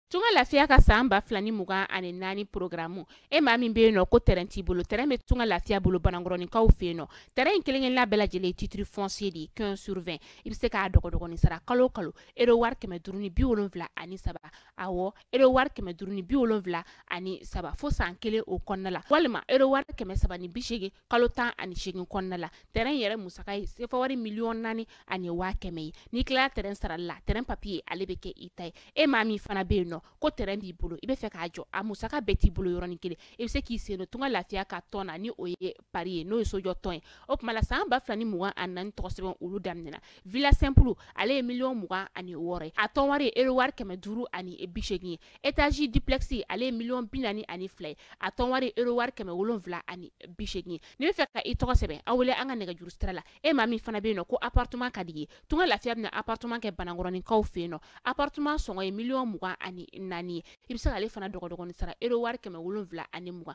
tunga lafiya ka san ba fila ni mugan ani naani porogaramu e maa min be yen nɔ ko tɛrɛn t'i bolo tɛrɛn be tunga lafiya bolo banankɔrɔninkaw fe yen nɔ tɛrɛn in kelenkelenna bɛɛ lajɛlen titiri fɔnsiye de ye quinze sur vingt i be se k'a dɔgɔdɔgɔnin sara kalo kalo ero wari kɛmɛ duru ni bi wolonfila ani saba awɔ ero wari kɛmɛ duru ni bi wolonfila ani saba fo san kelen o kɔnɔna la walima ero wari kɛmɛ saba ni bi segin kalo tan ani segin kɔnɔna la tɛrɛn yɛrɛ musaka ye sefa wari miliyɔn naani ani waa kɛmɛ ye n'i tilala tɛrɛn sarali la tɛrɛn papiye ale bɛ kɛ i ta ye e maa min fana bɛ yen nɔ ko tɛrɛn b'i bolo i bɛ fɛ k'a jɔ a musaka bɛɛ t'i bolo yɔrɔnin kelen i bɛ se k'i sen don tunga lafiya ka tɔn na ni o ye pari ye n'o ye sojɔ tɔn ye o kuma la san ba fila ni mugan ani naani tɔgɔ sɛbɛn olu daminɛna villa simple ale ye miliyɔn mugan ani wɔɔrɔ ye a tɔn wari ye euro wari kɛmɛ duuru ani bi seegin ye etazi duplex ale ye miliyɔn bi naani ani fila ye a tɔn wari ye euro wari kɛmɛ wolonwula ani bi seegin ye n'i bɛ fɛ ka i tɔgɔ sɛbɛn a wele an ka nɛgɛjuru sira la e maa min fana bɛ yen nɔ ko appartement ka d'i ye tunga lafiya bɛna appartement kɛ banankɔrɔninkaw fɛ yen nɔ appartement sɔngɔ ye miliyɔn mugan ani naani ye i bɛ se k'ale fana dɔgɔdɔgɔnin sara euro wari kɛmɛ wolonwula ani mugan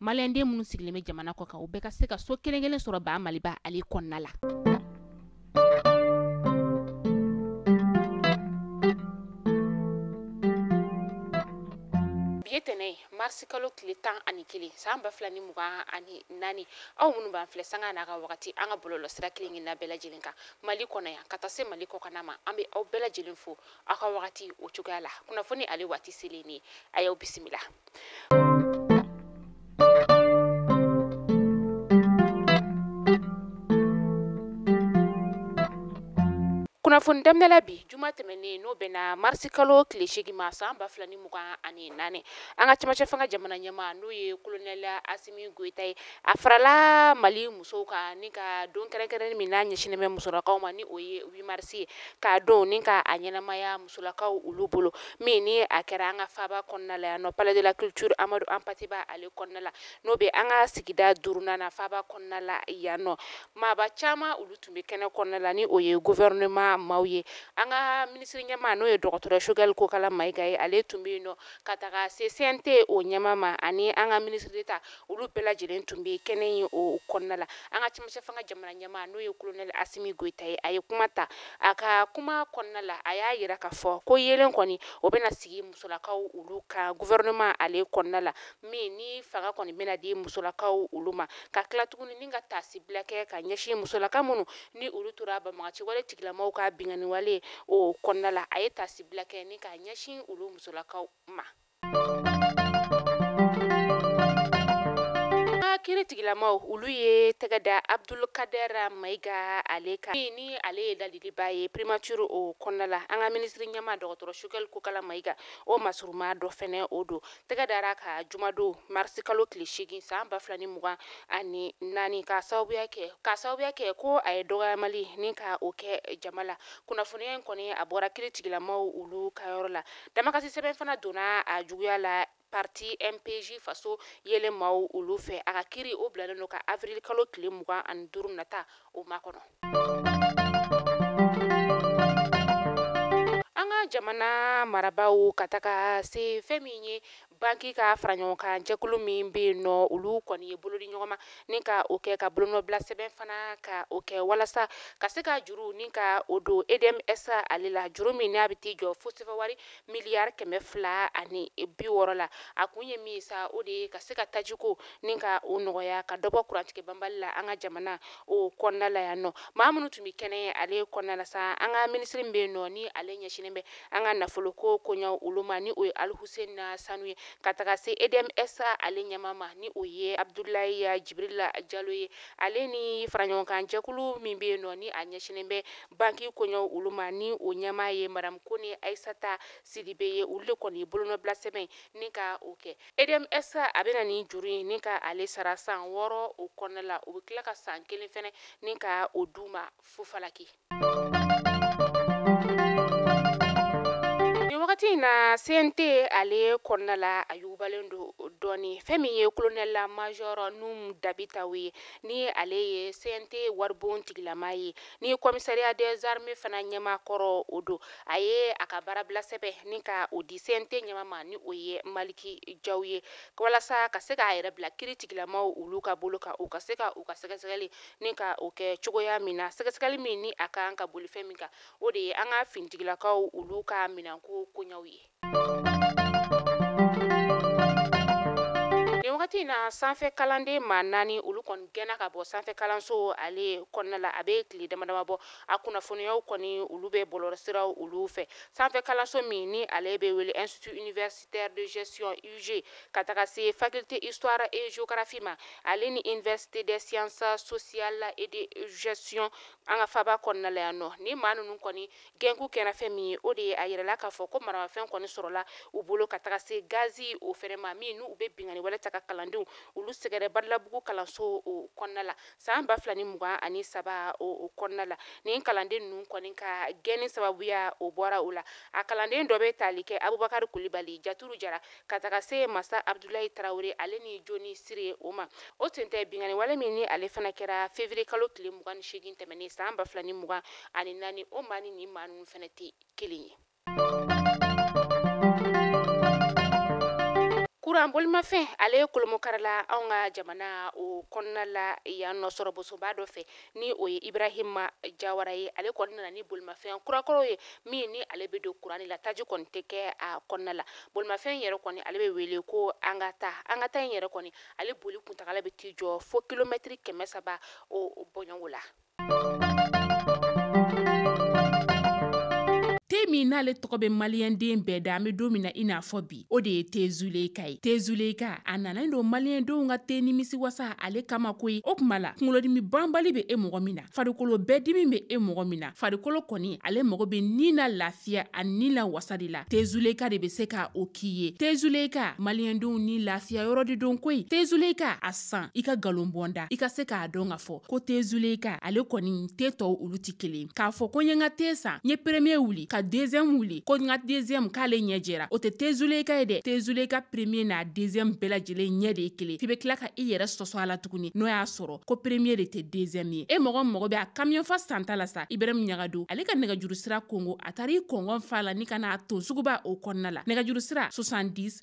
maliyɛnden minnu sigilen bɛ jamana kɔ kan u bɛɛ ka se ka so kelen kelen sɔrɔ ba maliba ale kɔnɔna la bi ye tɛnɛ ye marisi kalo tile tan ani kelen san ba fila ni mugan ani naani aw minnu b'an filɛ sanga n'a ka wagati an ka bɔlɔlɔ sira kelen kelenna bɛɛ lajɛlen kan mali kɔnɔ yan ka taa se mali kɔkana ma an be aw bɛɛ lajɛlen fo aw ka wagati o cogoya la kunnafoni ale waati selen ni a y'aw bisimila kunnafoni daminɛla bi juma tɛmɛnen n'o bɛnna marisi kalo tile seegin ma san ba fila ni mugan ani naani an ka cɛmancɛ fanga jamana ɲɛma n'o ye kolonɛli asimi goyita ye A farala mali musow kan ni ka don kɛrɛnkɛrɛnnen min n'a ɲɛsinnen bɛ musolakaw ma ni o ye huit marisi ye k'a don ni k'a ɲɛnamaya musolakaw olu bolo min ni a kɛra an ka faaba kɔnɔna la yan nɔ palais de la culture amadu hampate ba ale kɔnɔna la n'o bɛ an ka sigida durunan na faaba kɔnɔna la yan nɔ maaba caman olu tun bɛ kɛnɛ kɔnɔna la ni o ye gouvernement maaw ye an ka minisiri ɲɛma n'o ye dɔgɔtɔrɔ choguel kokala mayiga ye ale tun bɛ yen nɔ ka taga CNT o ɲɛma ma ani an ka minisiri d'État olu bɛɛ lajɛlen tun bɛ kɛnɛ in o kɔnɔna la an ka cɛmancɛ fanga jamana ɲɛmaa n'o ye kolonɛli asimi goyita ye a ye kuma ta a ka kuma kɔnɔna la a y'a yira k'a fɔ ko yeelen kɔni o bɛna sigi musolakaw olu kan gouvernement ale kɔnɔna la min ni fanga kɔni bɛna di musolakaw olu ma ka tila tuguni ni ka taasibila kɛ ka ɲɛsin musolaka minnu ni olu tora banbaganci wale tigilamaw ka binkanniwale o kɔnɔna la a ye taasibila kɛ ni ka ɲɛsin olu musolakaw ma kiri tigilamaw olu ye tɛgɛ da abdulkadɛra mayiga ale kan ni ale ye ladiliba ye primature o kɔnɔna la an ka minisiri ɲɛma dɔgɔtɔrɔ choguel kokala mayiga o masuruma dɔ fɛnɛ o don tɛgɛ dara a kan jumadon marisi kalo tile seegin san ba fila ni mugan ani naani ka sababuya kɛ ko a ye dɔgɔyamali ni ka o kɛ jama la kunnafoniya in kɔni a bɔra kiri tigilamaw olu ka yɔrɔ la Damakasi sɛbɛn fana donna a juguya la parti MPJ faso yelen maaw olu fɛ a ka kiri o bilalen don ka avril kalo tile mugan ani duuru nata o makɔnɔ. An ka jamana marabaaw ka taga se fɛn min ye banki ka fara ɲɔgɔn kan jɛkulu min bɛ yen nɔ olu kɔni ye bolo di ɲɔgɔn ma ni ka o kɛ ka bolonɔbila sɛbɛn fana ka o kɛ walasa ka se ka juru ni ka o don edmsa ale la juru min n'a bɛ t'i jɔ fo sefawari miliyari kɛmɛ fila ani bi wɔɔrɔ la a kun ye min sa o de ye ka se ka tajiko ni ka o nɔgɔya ka dɔbɔ kurantigɛ banbali la an ka jamana o kɔnɔna la yan nɔ maa minnu tun bɛ kɛnɛ ale kɔnɔna la sa an ka minisiri min bɛ yen nɔ ni ale ɲɛsinnen bɛ an ka nafolo ko koɲaw olu ma ni o ye alhuseni sanu ye ka taga se edmsa ale ɲɛma ma ni o ye abudulayi jibirili jalo ye ale ni faraɲɔgɔnkan jɛkulu min bɛ yen nɔ ni a ɲɛsinnen bɛ banki koɲaw olu ma ni o ɲɛma ye madamu kone ayisata sidibe ye olu de kɔni bolonɔbila sɛbɛn ni ka o kɛ edmsa a bɛna ni juru in ni ka ale sara san wɔɔrɔ o kɔnɔna la o bɛ tila ka san kelen fɛnɛ ni ka o d'u ma fufalaki wagati in na CNT ale kɔnɔna la a yugubalen don dɔɔni fɛn min ye kolonɛla majɔrɔ nuhum dabitaw ye ni ale ye CNT waribon tigilama ye ni commissariat des armées fana ɲɛma kɔrɔ o don a ye a ka baarabilasɛbɛn ni ka o di CNT ɲɛma ma ni o ye maliki jaw ye walasa ka se k'a yɛrɛ bila kiri tigilamaw olu ka bolo kan u ka se ka u ka sɛgɛsɛgɛli ni ka o kɛ cogoya min na sɛgɛsɛgɛli min ni a kan ka boli fɛn min kan o de ye an ka finitigilakaw olu ka minɛnko koɲaw ye nin wagati in na sanfɛ kalanden maa naani olu kɔni gɛnna ka bɔ sanfɛ kalanso ale kɔnɔna la a bɛ tile dama dama bɔ a kunnafoniyaw kɔni olu bɛ bɔlɔlɔsiraw olu fɛ sanfɛ kalanso min ni ale bɛ wele institut universi taire de gestion IUG ka taga se faculté histoire et géographie ma ale ni université des sciences sociales et de gestion an ka faba kɔnɔna la yan nɔ ni maa ninnu kɔni gɛnkun kɛra fɛn min ye o de ye a yirala k'a fɔ ko maramafɛn kɔni sɔrɔla u bolo ka taga se gazi o fɛnɛ ma min n'u bɛ binkanni wale ta ka kalandenw olu sɛgɛrɛ badalabugu kalanso o kɔnɔna la san ba fila ni mugan ani saba o kɔnɔna la nin kalanden ninnu kɔni ka gɛnni sababuya o bɔra o la a kalanden dɔ bɛ tali kɛ abubakari kulibali jaturu jara ka taga se masa abudulayi tarawele ale ni joni sire o ma o sen tɛ binkanni wale min ni ale fana kɛra fevriye kalo tile mugan ni seegin tɛmɛnen san ba fila ni mugan ani naani o maa ni nin maa ninnu fana tɛ kelen ye kuran bolimafɛn ale kolomokarila anw ka jamana o kɔnɔna la yan nɔ sɔrɔbosoba dɔ fɛ ni o ye ibrahima jawara ye ale kɔni nana ni bolimafɛn kurakɔrɔ ye min ni ale bɛ don kuran la taji kɔni tɛ kɛ a kɔnɔna la bolimafɛn yɛrɛ kɔni ale bɛ wele ko an ka taa an ka taa in yɛrɛ kɔni ale boli kuntagala bɛ t'i jɔ fo kilomɛtiri kɛmɛ saba o bɔɲɔgɔn la min n'ale tɔgɔ bɛ maliyɛnden bɛɛ da an bɛ don min na i n'a fɔ bi o de ye tezuleka ye tezuleka a nanen don maliyɛndenw ka te nimisi wasa ale kama koyi o kuma la kunkolodimi banbali bɛ e mɔgɔ min na farikolo bɛɛ dimi bɛ e mɔgɔ min na farikolo kɔni ale mɔgɔ bɛ ni na lafiya ani ni la wasa de la tezuleka de bɛ se ka o k'i ye tezuleka maliyɛndenw ni lafiya yɔrɔ de don koyi tezuleka a san i ka nkalon bɔ n da i ka se k'a dɔn ka fɔ ko te zuleyika ale kɔni te tɔw olu tɛ kelen k'a fɔ ko n ye n ka te san n ye premier wuli ka deuxième wuli ko n ka deuxième k'ale ɲɛ jɛra o tɛ te zuleyika ye dɛ te zuleyika premier n'a deuxième bɛɛ lajɛlen ɲɛ de ye kelen f'i bɛ tila ka i yɛrɛ sɔsɔ a la tuguni n'o y'a sɔrɔ ko premier de tɛ deuxième ye e mɔgɔ mɔgɔ bɛ a kamiyɔn fa santa la sa ibrahim ɲagadu ale ka nɛgɛjuru sira kongo a taara i kɔngɔn fa la ni ka n'a ton suguba o kɔnɔna la nɛgɛjuru sira 70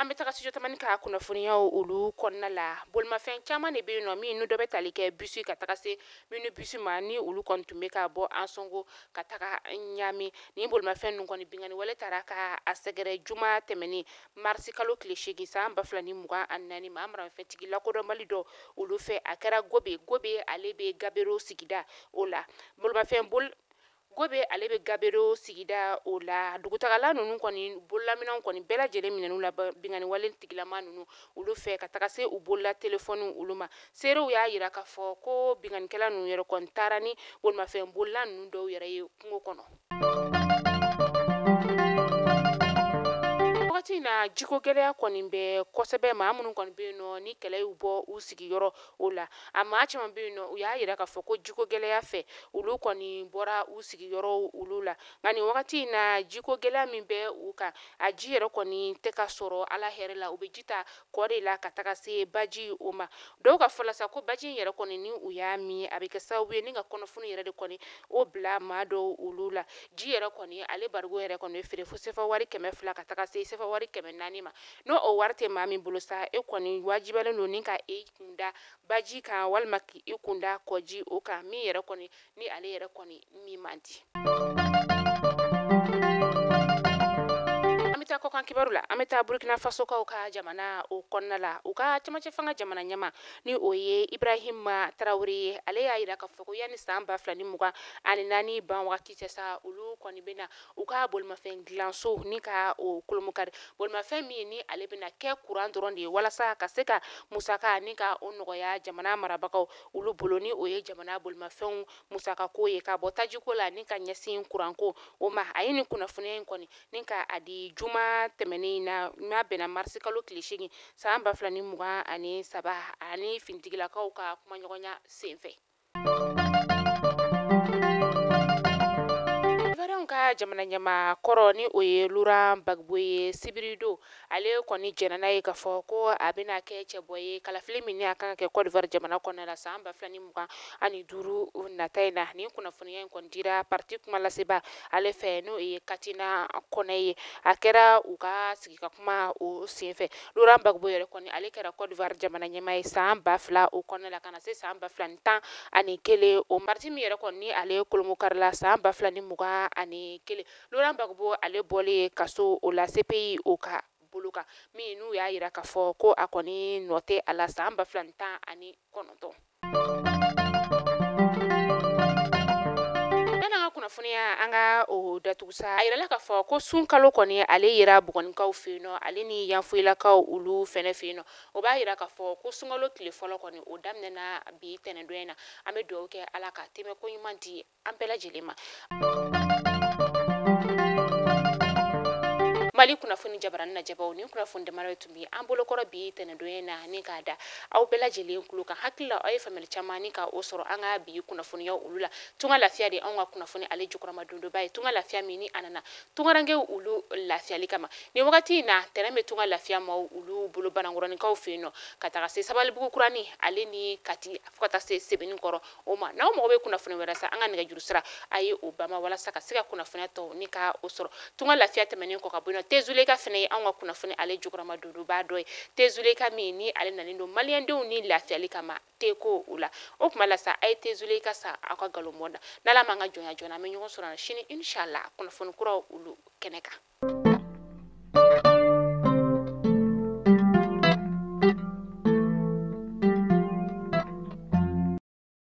an bɛ taga studio tamani ka kunnafoniyaw olu kɔnɔna la bolimafɛn caman de bɛ yen nɔ minnu dɔ bɛ tali kɛ bisi ka taga se minibisi ma ni olu kɔni tun bɛ ka bɔ ansɔngo ka taga ɲami ni bolimafɛn ninnu kɔni bingani wale taara ka a sɛgɛrɛ juma tɛmɛnen marisi kalo tile seegin san ba fila ni mugan ani naani maa maramafɛntigi lakodɔnbali dɔ olu fɛ a kɛra gobe gobe ale bɛ gabero sigida o la bolimafɛn bol Gobe ale bɛ gabero sigida o la dugutagala ninnu kɔni bololaminɛnw kɔni bɛɛ lajɛlen minɛn'u la bingani wale tigilama ninnu olu fɛ ka taga se u bolola telefɔni olu ma seerew y'a yira k'a fɔ ko binkannikɛla ninnu yɛrɛ kɔni taara ni bolimafɛn bolila ninnu dɔw yɛrɛ ye kungo kɔnɔ wagati in na jiko gɛlɛya kɔni bɛ kosɛbɛ maa minnu kɔni bɛ yen nɔ ni kɛlɛ y'u bɔ u sigiyɔrɔ o la a maa caman bɛ yen nɔ u y'a yira k'a fɔ ko jiko gɛlɛya fɛ olu kɔni bɔra u sigiyɔrɔ olu la nka nin wagati in na jiko gɛlɛya min bɛ u kan a ji yɛrɛ kɔni tɛ ka sɔrɔ ala hɛrɛ la u bɛ ji ta kɔ de la ka taga se baji o ma dɔw ka fɔ la sa ko baji in yɛrɛ kɔni ni u y'a min a bɛ kɛ sababu ye ni ka kɔnɔfunu yɛrɛ de kɔni o bila maa dɔw olu la ji yɛrɛ kɔni ale barigo yɛrɛ kɔni feere fo sefa wari kɛmɛ fila ka taga se sefa wari kɛmɛ naani ma n'o o wari tɛ maa min bolo sa e kɔni wajibiyalen don ni ka e kunda baji kan walima k' e kunda kɔji o kan min yɛrɛ kɔni ni ale yɛrɛ kɔni min man di an bɛ taa kɔkan kibaru la an bɛ taa burukina fasokaw ka jamana o kɔnɔna la u ka cɛmancɛ fanga jamana ɲɛmaa ni o ye ibrahima tarawele ye ale y'a yira k'a fɔ ko yanni san ba fila ni mugan ani naani ban wagati cɛ sa olu kɔni bɛna u ka bolimafɛn dilanso ni ka o kolomokari bolimafɛn min ye ni ale bɛna kɛ kuran dɔrɔn de ye walasa ka se ka musaka ni ka o nɔgɔya jamana marabagaw olu bolo ni o ye jamana bolimafɛnw musakako ye ka bɔ tajiko la ni ka ɲɛsin kuranko o ma a ye nin kunnafoniya in kɔni ni ka a di juma tɛmɛnen na n'a bɛnna marisikalo tile seegin san ba fila ni mugan ani saba ani finitigilakaw ka kumaɲɔgɔnya senfɛ jamana ɲɛmaa kɔrɔ ni o ye Laurent Gbagbo ye sibiridon ale kɔni jɛnna n'a ye k'a fɔ ko a bɛna kɛ cɛbɔ ye kalafili min ni a kan ka kɛ kɔdiwari jamana kɔnɔna la san ba fila ni mugan ani duuru nata in na ni kunnafoniya in kɔni dira pati kumalaseba ale fɛ n'o ye katina kɔnɛ ye a kɛra u ka sigi ka kuma o senfɛ Laurent Gbagbo yɛrɛ kɔni ale kɛra Côte d'Ivoire jamana ɲɛmaa ye san ba fila o kɔnɔna la ka na se san ba fila ni tan ani kelen o pariti min yɛrɛ kɔni ni ale kolomokarila san ba fila ni mugan ani kelen Laurent Gbagbo ale bɔlen ye kaso o la CPI o ka bolo kan min n'u y'a yira k'a fɔ ko a kɔni nɔ tɛ a la san ba fila ni tan ani kɔnɔntɔn kunnafoniya an ka o datugu sa a yirala k'a fɔ ko sunkalo kɔni ale yera bugunikaw fɛ yen nɔ ale ni yanfoyilakaw olu fɛnɛ fɛ yen nɔ o b'a yira k'a fɔ ko sunkalo tile fɔlɔ kɔni o daminɛna bi tɛnɛndon in na an bɛ dugawu kɛ ala k'a tɛmɛko ɲuman di an bɛɛ lajɛlen ma mali kunnafoni jabarani lajɛbaw nin kunnafoni damadɔ tun be an bolokɔrɔ bi tɛnɛndon in na ni k'a da aw bɛɛ lajɛlen kulo kan hakili la aw ye faamuyali caman ni ka o sɔrɔ an ka bi kunnafoniya olu la tunga lafiya de anw ka kunnafoni ale jukɔrɔmadondonba ye tunga lafiya min ni a nana tungarankew olu lafiyali kama nin wagati na tɛrɛn be tunga lafiya maaw olu bolo banankɔrɔnikaw fɛ yen nɔ ka taga se sabalibugu kurani ale ni kati fo ka taa se sebenikɔrɔ o ma n'aw mago bɛ kunnafoni wɛrɛ sa an ka nɛgɛjuru sira a ye o bama walasa ka se ka kunnafoniya tɔw ni ka o sɔrɔ tunga lafiya tɛmɛnen kɔ ka bɔ yen nɔ tezuleka fɛnɛ ye anw ka kunnafoni ale jukɔrɔmadondonbaa dɔ ye tezuleka min ni ale nalen don maliyɛndenw ni lafiyali kama teko o la o tuma la sa a ye tezuleka sa aw ka galomɔ da n'ala m'an ka jɔnya joona an bɛ ɲɔgɔn sɔrɔ sini inshallah kunnafoni kuraw olu kɛnɛ kan